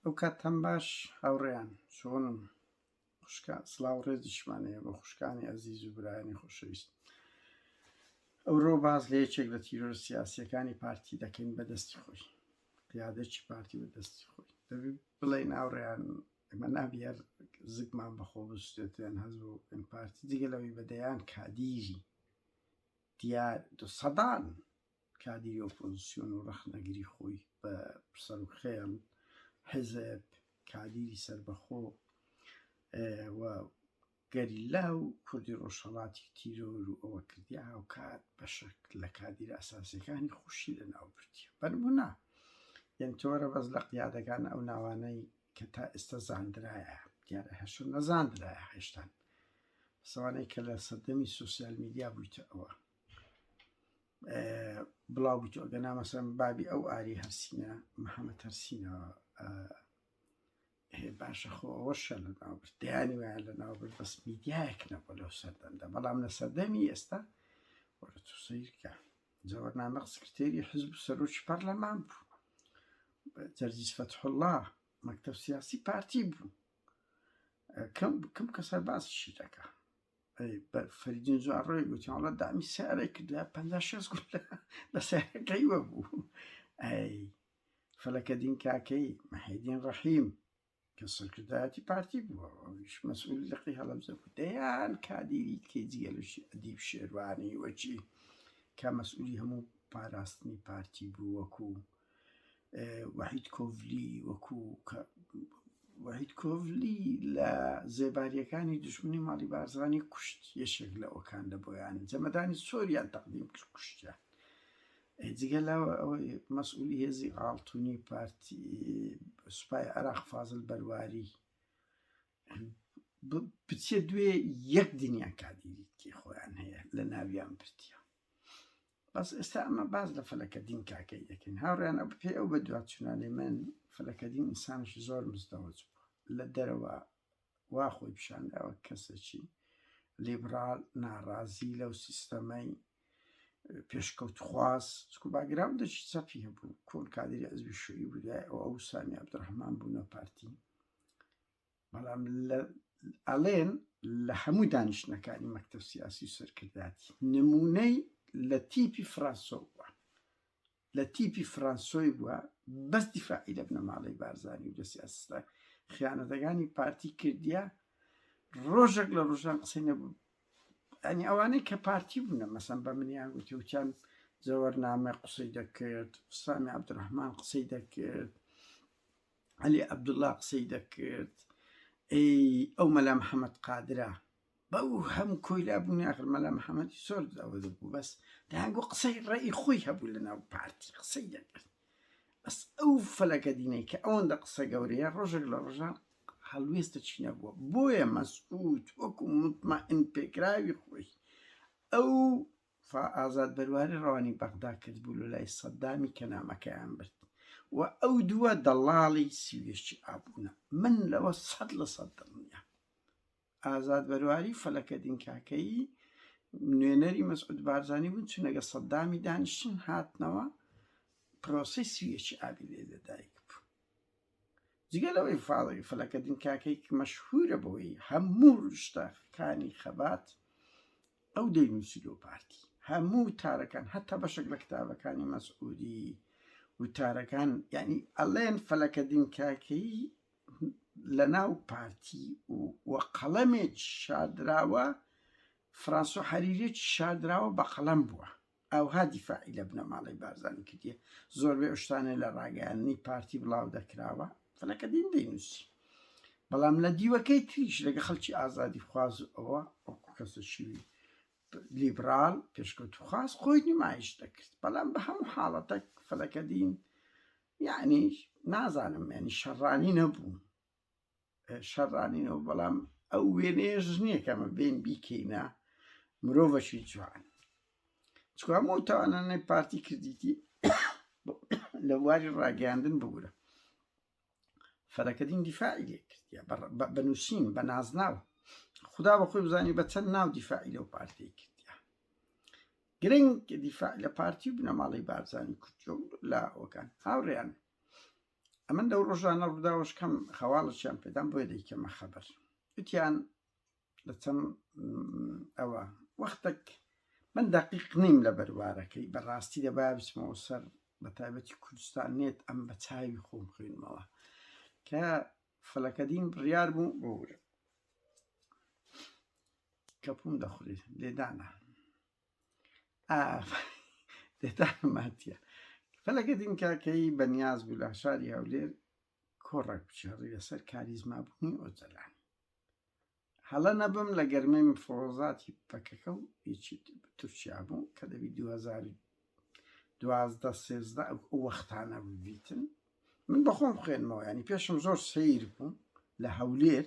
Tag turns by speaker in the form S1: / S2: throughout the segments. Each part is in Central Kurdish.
S1: ئەو کات هەم باش هاوڕێیان چۆن خوشکە سلااو ڕێزیشمانەیە بۆ خوشکانی ئەزیز و برایانی خۆشەویست ئەوڕۆ باز لە یەکێک لە تیرۆر سیاسیەکانی پارتی دەکەین بە دەستی خۆی قیادێکی پارتی بە دەستی خۆی دەبی بڵێ ناوڕێیان ئەمە نابیار زگمان بەخۆ بستێتیان هەز بۆ ئەم پارتی دیگە لەوەی بەدەیان کادیری دیار دو سەدان کادیری ئۆپۆزسیۆن و ڕەخنەگری خۆی بە سەروخێڵ، حیزب، کادیری سەربەخۆ و گەریلا و کوردی ڕۆژهەڵاتی تیرۆر و ئەوە کردیە، هاوکات بەشەک لە کادیرە ئەساسیەکانی خۆشی لە ناو بردیە. بە نمونە یەن تۆرە بەس لە قیادەکان ئەو ناوانەی کە تا ئێستا زاندرایە دیارە هەشە نەزاندرایە هێشتان سەوانەی کە لە سەردەمی سوسیال میدیا بویتە ئەوە. بڵاو بوویت ئەگە نامەسەم بابی ئەو ئاری هەرسینە محەممە تەرسینەوە باشە خۆ ئەوەشە لە ناوبرد دەیانی وایە لە ناوبرد بەس میدیایەک نەبوو لەو سەردەمدا بەڵام لە سەردەمی ئێستا وەرە تو سیرکە جەوەرنامە سکرتێری حزب و سەرۆکی پەرلەمان بوو جەرجیس فەتحله مەکتب سیاسی پارتی بوو کەم بکەم کەسەر باسیشی دەکە فەریدون جوان ڕێ گوتی وڵات دامی سیارەی کردە پ شێست گوت لە سیارەکەی وە بوو ئەی فەلەکە دین کاکەی مەحیدین ڕەحیم کە سەرکردایەتی پارتی بووە ئەویش مەسئول لەقی هەڵەبزە بوو دەیان کادیری کەی جگەلشی ئەدیب شێروانی وەچی کە مەسئولی هەموو پاراستنی پارتی بوو وەکوو وەحید کۆڤلی وەکو وەحید کۆڤلی لە زێباریەکانی دوژمنی ماڵی بارزانی کوشت یەشێک لە ئەوکان لە بۆیان جەمەدانی سۆریان تەقدیم کرد کوشتیان جگە لەوە ئەوەی مەسئولی هێزی ئاڵتونی پارتی سوپای عراق فازل بەرواری بچێ دوێ یەک دنیا کادیریتی خۆیان هەیە لە ناویان پرتیە بەس ئێستا ئەمە باز لە فەلەکەدین کاکەی دەکەین هاوڕیان ئەو پێ ئەو بە دوا چونالی من فەلەکەدین ئینسانش زۆر مزدەوەج بوو لە دەرەوە وا خۆی پیشانداوە کەسێکی لیبرال ناڕازی لەو سیستەمەی پێشکەوتخواز چکو باگراوندەکی چەپی هەبوو کۆن کادری ئەزبی شوی بوو ئەو سامی عبدڕحمان بوونە پارتی بەڵام ئەڵێن لە هەموو دانیشتنەکانی مەکتەب سیاسی و سەرکردایەتی نمونەی لە تیپی فرانسۆ بووە لە تیپی فرانسۆی بووە بەس دیفاعی لە بنەماڵەی بارزانانی و لە سیاستە خیانەتەکانی پارتی کردیە ڕۆژێک لە ڕۆژان قسەی نەبوو ئەنی ئەوانەی کە پارتی بوونە مەسم بە منیان گوتی وچان زەوەرنامە قسەی دەکرد سامی عبدڕحمان قسەی دەکرد عەلی عەبدوڵا قسەی دەکرد ئەی ئەو مەلا محەممەد قادرە بەو هەم کۆیلا بوونی ئاخر مەلا محەممەدی سۆر ئەوە بوو بەس دەیانگو قسەی ڕێی خۆی هەبوو لە ناو پارتی قسەی دەکرد بەس ئەو فەلەکە دینەی کە ئەوەندە قسە گەورەیە ڕۆژێک لە ڕۆژان هەڵوێستە چی نەبووە بۆیە مەسعود وەکو متمەئن پێکراوی خۆی ئەو فا ئازاد بەرواری ڕەوانی بەغدا کرد بوو لە لای سەددامی کە نامەکەیان برد و ئەو دووە دەڵاڵی سیویشی ئابوونە من لەوە سەد لە سەد دڵنیا ئازاد بەرواری فەلەکە دینکاکەیی نوێنەری مەسعود بارزانانی بوون چونەگە سەددامی دانیشتن هاتنەوە پرۆسی سویەکی ئابی لێ لەدایک بوو جگە لەوەی فاڵی فەلەکەدین کاکەیک مەشهوورە بەوەی هەموو ڕشتەکانی خەبات ئەو دەینووسی لۆ پارتی هەموو تارەکان هەتا بەشێک لە کتابەکانی مەسعودی وتارەکان یعنی ئەلێن فەلەکەدین کاکەیی لە ناو پارتی و قەڵەمێک شادراوە فرانسۆ حەریرێکی شادراوە بە قەڵەم بووە ئاوها دیفاعی لە بنەماڵەی بارزانی کردیە زۆربەی ئەو شتانە لە ڕاگەیاندنی پارتی بڵاو دەکراوە فەلەکەدین دەینوسی بەڵام لە دیوەکەی تریش لەگە خەڵکی ئازادی خواز و ئەوە ئەو کەسە شیوی لیبرال پێشکەوت و خاص خۆی نمایش دەکرد بەڵام بە هەموو حاڵەتەک فەلەکەدین یعنی نازانم یعنی شەڕانی نەبوو شەڕانینەوە بەڵام ئەو وێنێش نییە کەمە بێن بیکەینە مرۆڤەشی جوان چکام و تاوانانەی پارتی کردیتی لە واری ڕاگەاندن بگورە فەرەکەدین دیفاعی لێ کردە بەنووسین بە نازناوە خدا بە خۆی بزانانی بە چەند ناو دیفاعی لەو پارتی کردە گرنگ دیفاع لە پارتی بنەماڵی بارزانانی کوردۆ لە ئەوکان هاوڕێیان ئەمن لەو ڕۆژانە ڕووداوشکەم خەواڵەشیان پێدام بۆیە دەیکەمە خەبەر وتیان لە چەند ئەوە وەختێک من دەقیق نیم لە بەروارەکەی بەڕاستی دەبا بچمەوە سەر بە تایبەتی کوردستان نێت ئەم بە چاوی خۆم خوێنمەوە کە فەلەکەدین بڕیار بوو بۆ ورە کەپوم دەخورێت لێدانە دێتانماتە فەلەگەدین کاکەی بەنیاز بوو لە شاری هەولێر کۆڕێک بچێڕی لەسەر کاریزمابوونی ئۆجەلان هەڵە نەبم لە گەرمەی مفۆزاتی پەکەکە و هیچی تورکیا بوو کە دەبی دوازدە سێزدە وەختانە ببیتن من بەخۆم خوێنمەوە ینی پێشم زۆر سیر بوو لە هەولێر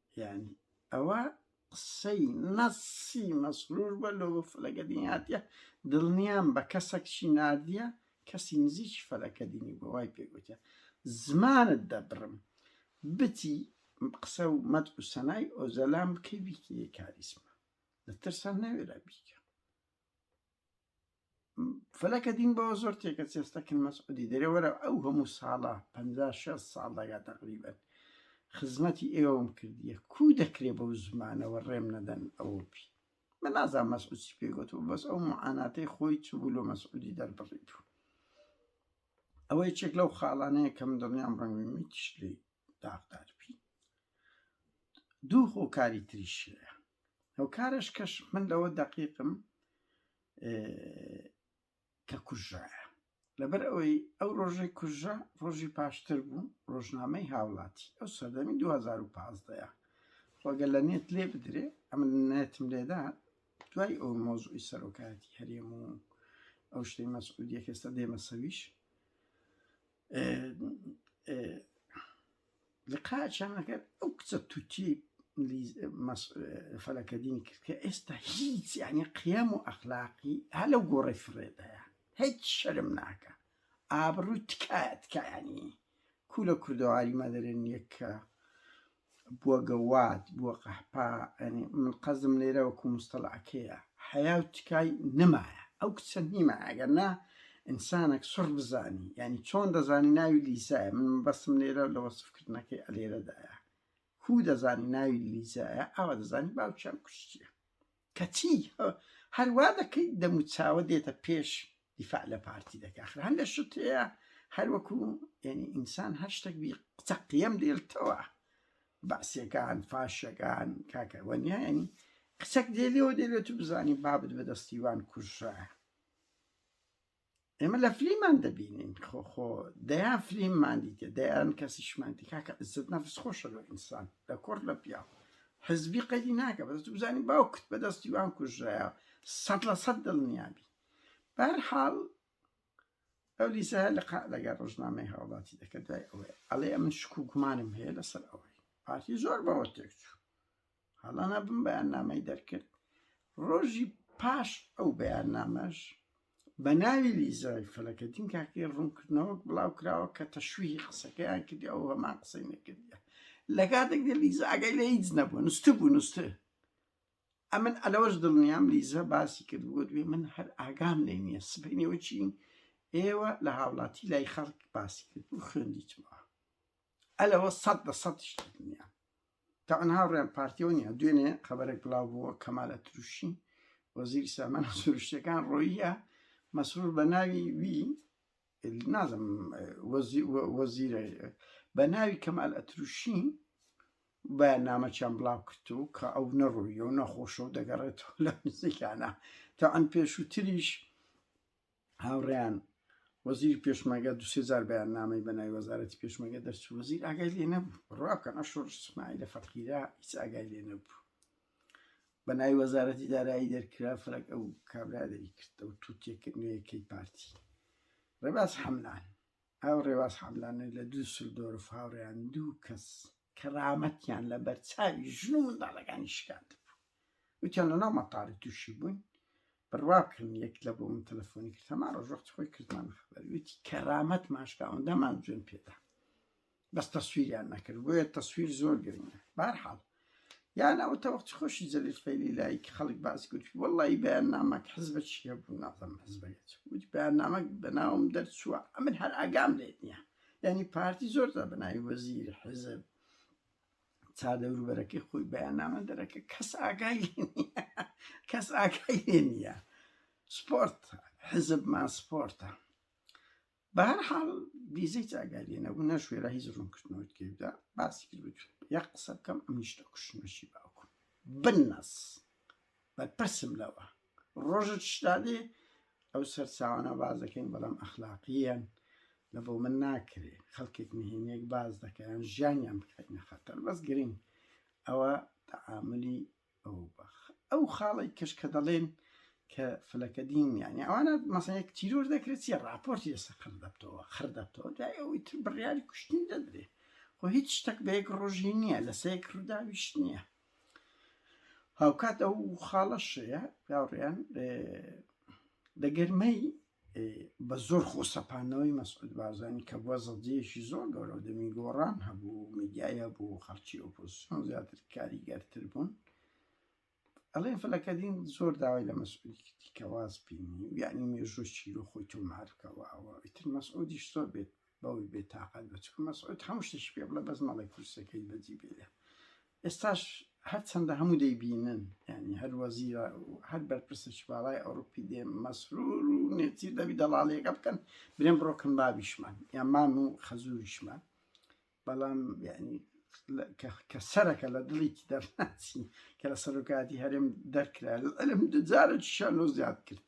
S1: یانی ئەوە قسەی نەسی مەسرور بە لۆ بە فلەگە دین هاتیە دڵنیام بە کەسەک چی ناردیە کەسی نزیکی فەلەکە دینی بۆ وای پێگوتە زمانت دەبڕم بتی قسە و مەد و سەنای ئۆزەلام بکەی بیکێ کاریسمە لە ترسان نەوێرا بیکە فلەکە دین بەوە زۆر تێکە چێستە کن مەسعودی دەرێ وەرە ئەو هەموو ساڵە پ ساڵ دەگات تقریبن خزمەتی ئێوەم کردیە کو دەکرێ بەو زمانەوە ڕێم نەدەن ئەوە پی من نازان مەسعودی پێگوت و بەس ئەو معاناتەی خۆی چبوو لۆ مەسعودی دەربڕیت و ئەوەی چێک لەو خاڵانەیە کەم دڵنیام ڕەنگمیتیش لی داغدار پی دوو خۆکاری تریشەیە هۆکارش کەش من لەوە دەقیقم کە کوژایە لەبەر ئەوەی ئەو ڕۆژەی کوژە ڕۆژی پاشتر بوو ڕۆژنامەی هاوڵاتی ئەو سەردەمی 2015 خۆگە لە نێت لێ بدرێ ئەمن نێتم لێدا دوای ئەو مۆزوی سەرۆکایەتی هەرێم و ئەو شتەی مەسعودیە کەێستا دێمە سەویش لقا چەمەکەر ئەو کچە تووتی فەلەکەدینی کرد کە ئێستا هیچ یعنی قیام و ئەخلاقی هە لەو گۆڕی فرێدایە هیچ شەرم ناکە ئابڕووی تکایە تکایانی کو لە کوردەواری مەدەرێن یەکە بوە گەواد بوە قەحپە یانی من قەزم لێرە وەکو مستەڵەعەکەیە حەیا و تکای نەمایە ئەو کچە نیمە ئەگەر نا ئینسانەک سڕ بزانی یانی چۆن دەزانی ناوی لیزایە من مەبەستم لێرە لە وەسف کردنەکەی ئەلێرەدایە کو دەزانی ناوی لیزایە ئاوا دەزانی باوکیان کوشتیە کەچی هەر وا دەکەیت دەم و چاوە دێتە پێش دیفاع لە پارتی دەکە ئەخر هەندێ شت هەیە هەر وەکو یعنی ئینسان هەر شتێک بی قسە قیەم دێلتەوە بەعسیەکان فاشەکان کاکە وەنیا یعنی قسەک دێلەوە دێلێت و بزانی بابت بەدەستی وان کوژرایە ئێمە لە فلیمان دەبینین خۆ خۆ دەیان فلیممان دیتە دەیان کەسیشمان دی کاکە عزت نەفس خۆشە لە ئینسان لە کۆر لە پیا حزبی قەدی ناکە بەدەست بزانی باوکت بەدەستی وان کوژرایە سەد لە سەد دڵنیابی بەر حاڵ ئەو لیسە لە لەگە ڕژنامەی هاوڵاتی دەکە دوای ئەوەیە ئەڵێ من شکو گومانم هەیە لەسەر ئەوەی پارتی زۆر بەوە تێکچوو هەڵانا بم بەیاننامەی دەرکرد ڕۆژی پاش ئەو بەیاننامەش بە ناوی لیزای فەلەکەدین کاکەی ڕوونکردنەوەک بڵاو کراوە کە تەشویی قسەکەیان کردی ئەو هەمان قسەی نەکردە لە کاتێک دە لیزا ئەگەی لە هیچ نەبوو نووستی بوو نووستی ئەمن ئەلەوەش دڵنیام لیزە باسی کرد بۆ دوێ من هەر ئاگام لێ نییە سبینەوە چین ئێوە لە هاوڵاتی لای خەڵک باسی کرد و خوێندیتمەوە ئەلەوە سەد لە سەدیش دڵنیام تەعەن هاوڕێیان پارتیەوە نیە دوێنێ خەبەرێک بڵاو بووە کەمال ئەتروشی وەزیری سامانە سروشتەکان ڕۆیە مەسرور بە ناوی وی نازم وەزیرە بە ناوی کەمال ئەتروشی بەیاننامەچیان بڵاو کردو کە ئەو نەڕوویە و نەخۆشە و دەگەڕێتەوە لە نزیکانە تەعەن پێشووتریش هاوڕێیان، وەزیری پێشمەرگە دوو سێ جار بەیاننامەی بە ناوی وەزارەتی پێشمەرگە دەرچوو، وەزیر ئاگای لێ نەبوو. بڕوا بکەن ئەو شۆڕش ئیسماعیلە فەقیرە هیچ ئاگای لێ نەبوو. بە ناوی وەزارەتی دارایی دەرکرا، فەرەک ئەو کابرا دەری کرد، ئەو تووتێکە نوێیەکەی پارتی. ڕێباز حەملان، ئەو ڕێباز حەملانە لە دوسلدۆرف هاوڕێیان دوو کەس کەرامەتیان لەبەرچاوی ژن و منداڵەکانی شکاندبوو، وتیان لەناو مەتار تووشی بووین، بڕوابکەن یەک لە بۆ من تەلەفۆنی کرد هەمان ڕۆژ وەختی خۆی کردمانە خەبەر، وتی کەرامەتمان شکا ئەوەندەمان جوێن پێدا بەس تەسویریان نەکرد بۆیە تەسویر زۆر گرنگە بەهەرحاڵ یان ئەوە تا وەختی خۆشی جەلیل فەیلی لای کە خەڵک باسی کرد وەڵڵی بەیاننامەک حزبە چییە بوو نازانم حزبەکە چ بوو وتی بەیاننامەک بەناوم دەرچووە ئەمن هەر ئاگام لێ نییە یعنی پارتی زۆر تا بناوی وەزیر حزب چا دەوروبەرەکەی خۆی بەیاننامە دەرەکە کەس ئاگای کەس ئاگای لێ نییە سپۆرت حزبمان سپۆرتە بەهر حاڵ بیزەی چاگاری نەبوو نەشوێرا هیچ ڕوون کردنەوەت کردا باسی کرد یە قسە بکەم ئەم نیشتە کوشنەشی باوکم بنەس بەرپرسم لەوە ڕۆژت شتادێ ئەو سەرچاوانە باز دەکەین بەڵام ئەخلاقیەن لە بۆ من ناکرێ خەڵکێک نهێنێک باز دەکەیان ژیانیان بکەینە خەتەر بەس گرنگ ئەوە تەعاملی ئەو بەخ ئەو خاڵی کەش کە دەڵێن کە فلەکە دین یانی ئەوانە مەسەیەک تیرۆر دەکرێت چیە راپۆرتی لەسە قڕ دەبتەوە خڕ دەبتەوە دوای ئەوەی تر بڕیاری کوشتنی دەدرێ خۆ هیچ شتەک بە یەک ڕۆژی نییە لەسەیەک ڕووداویش نییە هاوکات ئەو خاڵەشەیە پیاوڕیان دەگەرمەی بە زۆر خۆسەپانەوەی مەسعود بارزانانی کە بووە زەدەیەکی زۆر گەورە و دەمی گۆڕان هەبوو میدیایە بوو خەڵکی ئۆپۆزیسیۆن زیاتر کاریگەرتر بوون ئەڵێن فلەکەدین زۆر داوای لە مەسعودیکەواز بینی یعنی مێژوو چیرۆ خۆی تۆمارکەوەەوە ئیتر مەسعودیش زۆر بێت بەوەی بێ تاقەت بە چکە مەسعود هەموو شتێکی پێ بڵێ بەس مەڵێ کورسەکەی بەجی بێرێ ئێستاش هەرچەندە هەموو دەیبینن یعنی هەر وەزیرە هەر بەرپرسێکی باڵای ئەوروپی دێ مەسرور و نێچیر دەبی دەڵاڵیەکە بکەن برێن بڕۆکن بابیشمان یا مام و خەزوریشمان بەڵام یعنی کە سەرەکە لە دڵێکی دەرناچی کە لە سەرۆکاتی هەرێم دەرکرا لەلم دجارە شانۆ زیاد کرد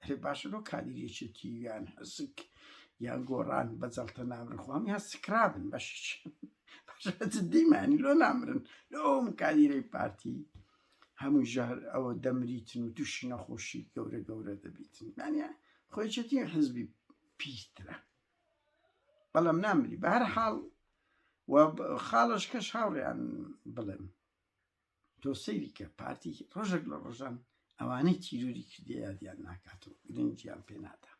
S1: ئەرێ باشە لۆ کادیری یەکێتی یان حسک یان گۆڕان بە جەڵتە نامرن خۆ هەمیان سکرابن بەشیچ دیمانی لۆ نامرن لۆم کادیرەی پارتی هەموو ژەهر ئەوە دەمریتن و تووشی نەخۆشی گەورە گەورە دەبیتن مانە خۆیچێتی حزبی پیسترە بەڵام نامری بەهر حاڵ و خاڵش کەش هاوڕێیان بڵێم تۆ سەیری کە پارتی ڕۆژێک لە ڕۆژان ئەوانەی تیرۆری کردیە یادیان ناکات و گرنگیان پێ نادا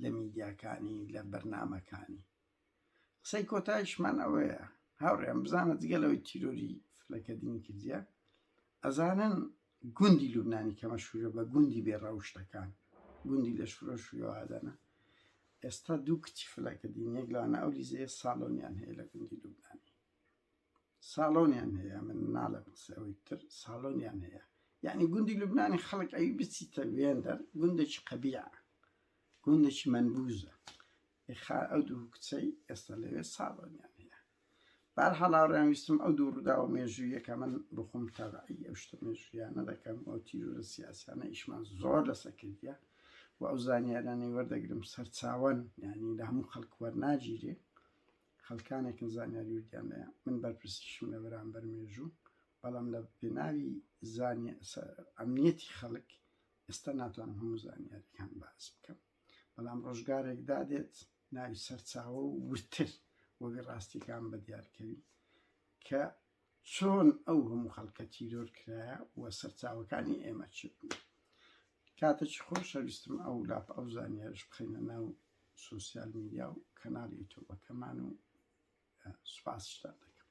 S1: لە میدیاکانی لە بەرنامەکانی قسەی کۆتایشمان ئەوەیە هاوڕێیان بزانە جگە لەوەی تیرۆری فلەکە دینی کردیە ئەزانن گوندی لوبنانی کەمە شوورە بە گوندی بێ ڕەوشتەکان گوندی لە شورە شووادەنە ئێستا دوو کچی فلەکە دینیەک لەوانە ئەو لیزەیە ساڵۆنیان هەیە لە گوندی لوبنانی ساڵۆنیان هەیە من ناڵێم قسە ئەوەی تر ساڵۆنیان هەیە یعنی گوندی لوبنانی خەڵک ئەوی بچیتە وێندەر گوندێکی قەبیع گوندێکی منبوزە خا ئەو دوو کچەی ئێستا لەوێ ساڵۆنیان هەیە بار هەڵاڕیان ویستم ئەو دوو ڕووداوە مێژوویەکە من بخۆم تەبعی ئەو شتە مێژویانە دەکەم ئەو تیرورە سیاسیانە ئیشمان زۆر لەسە کردە و ئەو زانیارانەی وەردەگرم سەرچاوەن ینی لە هەموو خەڵک وەرناگیرێ خەڵکانێکن زانیاری وردیان لێیە، من بەرپرسیشم لە بەرامبەر مێژوو، بەڵام لە پێناوی ئەمنیەتی خەڵک ئێستا ناتوانم هەموو زانیاریەکان باس بکەم، بەڵام ڕۆژگارێک دادێت ناوی سەرچاوە و وردتر وەبی ڕاستیەکان بە دیارکەوی کە چۆن ئەو هەموو خەڵکە تیرۆر کرایە و سەرچاوەکانی ئێمە چ بوون. کاتەکی خۆشە ویستم ئەو لاپ ئەو زانیارش بخەینە ناو سوسیال میدیا و کەناڵ یوتوبەکەمان و سوپاسشتان دەکەم